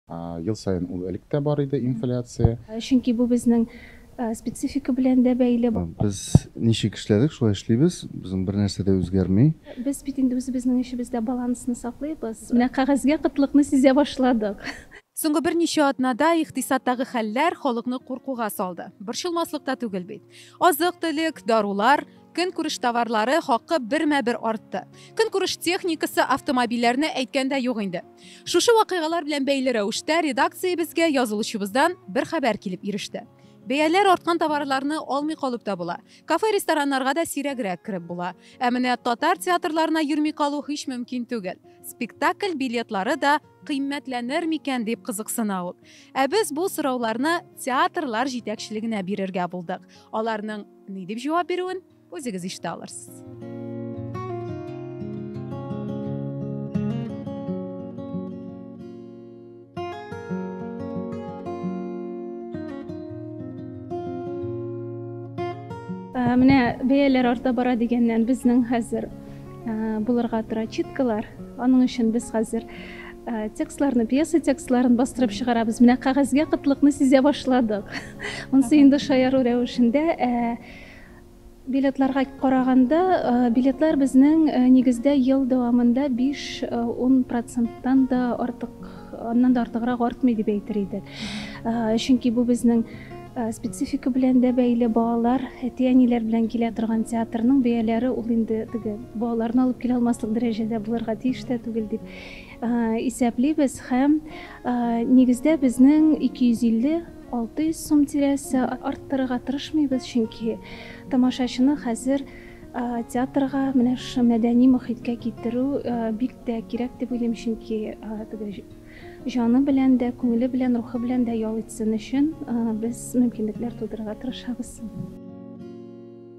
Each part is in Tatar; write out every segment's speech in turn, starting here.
Ел саен ул элек тә бар иде, инфляция. Чөнки бу безнең специфика белән дә бәйле. Без ничек эшләдек, шулай эшлибез. Безнең бернәрсә дә үзгәрми. Без бит инде үзебезнең эшебездә балансны саклыйбыз. Менә кәгазьгә кытлыкны сизә башладык. Соңгы берничә атнада икътисадтагы хәлләр халыкны куркуга салды. Борчылмаслык та түгел бит. Азык-төлек, дарулар, көнкүреш товарлары хакы бермә-бер артты. Көнкүреш техникасы, автомобильләрне әйткәндә юк инде. Шушы вакыйгалар белән бәйле рәвештә редакциябезгә язылучыбыздан бер хәбәр килеп иреште. Бәяләр арткан товарларны алмый калып та була. Кафе-рестораннарга да сирәгрәк кереп була. Ә менә татар театрларына йөрми калу һич мөмкин түгел. Спектакль билетлары да кыйммәтләнер микән, дип кызыксына ул. Ә без бу сорауларны театрлар җитәкчелегенә бирергә булдык. Аларның ни дип җавап бирүен Үзегез ишетә алырсыз. менә бәяләр арта бара дигәннән безнең хәзер булырга тора читкалар аның өчен без хәзер текстларны пьеса текстларын бастырып чыгарабыз менә кәгазьгә кытлыкны сизә башладык монысы инде шаяру рәвешендә Билетларга караганда, билетлар безнең нигездә ел дәвамында биш-ун проценттан да артык, аннан да артыграк артмый дип әйтер идек. Чөнки бу безнең специфика белән дә бәйле, балалар, әти-әниләр белән килә торган театрның бәяләре ул инде теге балаларны алып килә алмаслык дәрәҗәдә булырга тиеш тә түгел дип исәплибез һәм нигездә безнең 250 600 сум тирәсе арттырырга тырышмыйбыз, чөнки тамашачыны хәзер театрга, менә шушы мәдәни мохиткә китерү бик тә кирәк дип уйлыйм, чөнки җаны белән дә, күңеле белән, рухы белән дә ял итсен өчен без мөмкинлекләр тудырырга тырышабыз.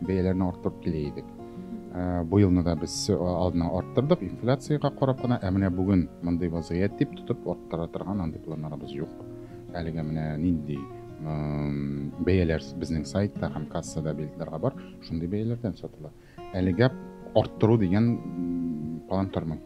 бәяләрне арттырып килә идек. Ә, бу елны да без э, алдына арттырдык, инфляциягә карап кына, ә менә бүген мондый вазгыять дип тотып арттыра торган андый планнарыбыз юк. Әлегә менә нинди бәяләр безнең сайтта һәм кассада билетларга бар, шундый бәяләрдән сатыла. Әлегә арттыру дигән план тормый.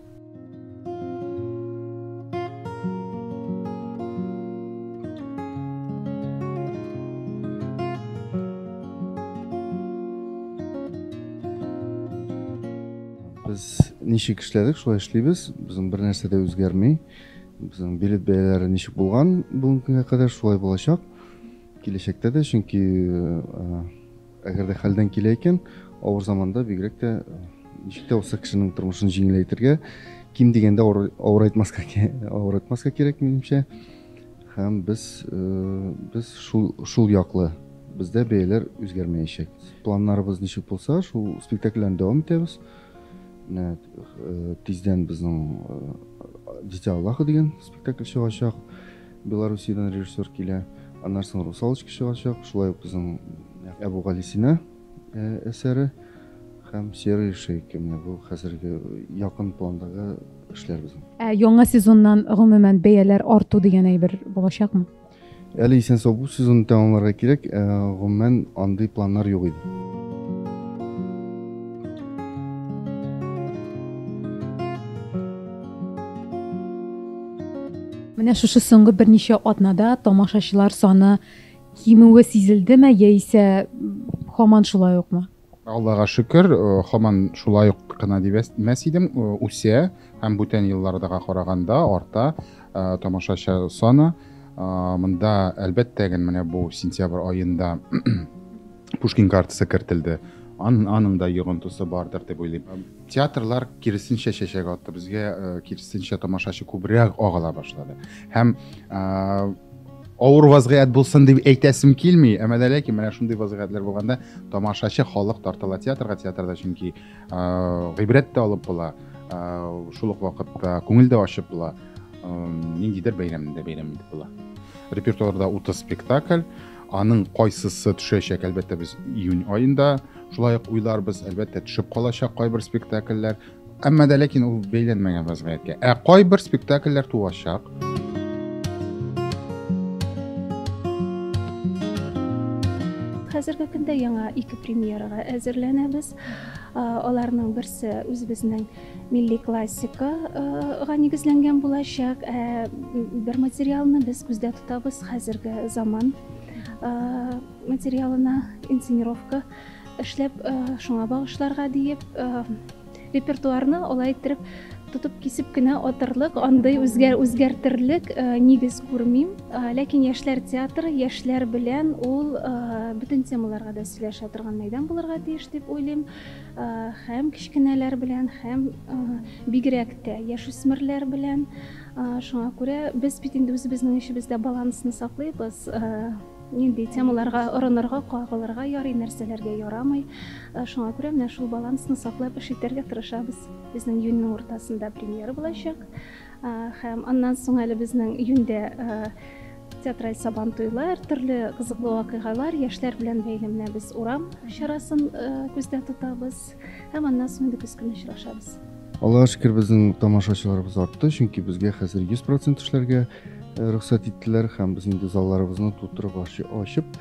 Без ничек эшләдек, шулай эшлибез. Безнең бер нәрсә дә үзгәрми. Безнең билет бәяләре ничек булган бүгенге кадәр шулай булачак. Киләчәктә дә, чөнки э, Әгәр дә хәлдән килә икән, авыр заманда бигрәк тә ничек тә булса кешенең тормышын җиңеләйтергә, ким дигәндә авырайтмаска авырайтмаска кирәк минемчә. Һәм без без шул шул яклы бездә бәяләр үзгәрмәячәк. Планнарыбыз ничек булса, шул спектакльләрне дәвам итәбез. Менә тиздән безнең Дитя Аллаха дигән спектакль чыгачак. Белоруссиядән режиссер килә. Аннан соң Русалочка чыгачак. Шулай ук безнең Әбүгалисина әсәре һәм Серый шейка. Менә бу хәзерге якын пландагы эшләр безнең. Ә яңа сезоннан гомумән бәяләр арту дигән әйбер булачакмы? Әле исән сау бу сезонны тәмамларга кирәк. Ә, гомумән андый планнар юк иде. Менә шушы соңгы берничә атнада тамашачылар саны кимүе сизелдеме яисә һаман шулай укмы? Аллага шөкер, һаман шулай ук кына дип әйтмәс идем, үсә һәм бүтән еллардагы караганда арта тамашачы саны. Монда әлбәттә генә менә бу сентябрь аенда Пушкин картасы кертелде. Ан, аның да йогынтысы бардыр дип уйлыйм. Театрлар киресенчә чәчәк атты. Безгә э, киресенчә тамашачы күбрәк агыла башлады. Һәм э, авыр вазгыять булсын дип әйтәсем килми, әмма дә ләкин менә шундый вазгыятьләр булганда тамашачы халык тартыла театрга, театрда чөнки э, гыйбрәт тә алып була, э, шул ук вакытта күңел дә ачып була, э, ниндидер бәйрәмдә бәйрәм итеп була. Репертуарда 30 спектакль, Аның кайсысы төшәчәк, әлбәттә, без июнь аенда шулай ук уйларбыз, әлбәттә, төшеп калачак кайбер спектакльләр. Әмма дә ләкин ул бәйләнмәгән вазгыятькә. Ә кайбер спектакльләр туачак. Хәзерге көндә яңа ике премьерага әзерләнәбез. Аларның берсе үзебезнең милли классикага нигезләнгән булачак. Ә бер материалны без күздә тотабыз хәзерге заман материалына инсценировка эшләп, шуңа багышларга диеп репертуарны алай иттереп тотып кисеп кенә атырлык, андый үзгәр үзгәртерлек нигез күрмим. Ләкин яшьләр театры яшьләр белән ул бөтен темаларга да сөйләшә торган мәйдан булырга тиеш дип уйлыйм. Һәм кечкенәләр белән, һәм бигрәк тә яшүсмерләр белән. Шуңа күрә без бит инде үзебезнең эшебездә балансны саклыйбыз. Нинди темаларга орынырга, кагылырга ярый, нәрсәләргә ярамый. Шуңа күрә менә шул балансны саклап эш итәргә тырышабыз. Безнең июньнең уртасында премьера булачак. Һәм аннан соң әле безнең июньдә Театраль сабантуйлар, төрле кызыклы вакыйгалар, яшьләр белән бәйле менә без урам чарасын күздә тотабыз һәм аннан соң инде көз көне очрашабыз. Аллаһ шөкер, безнең тамашачыларыбыз артты, чөнки безгә хәзер 100% эшләргә рөхсәт иттеләр һәм без инде залларыбызны тутырып ачып,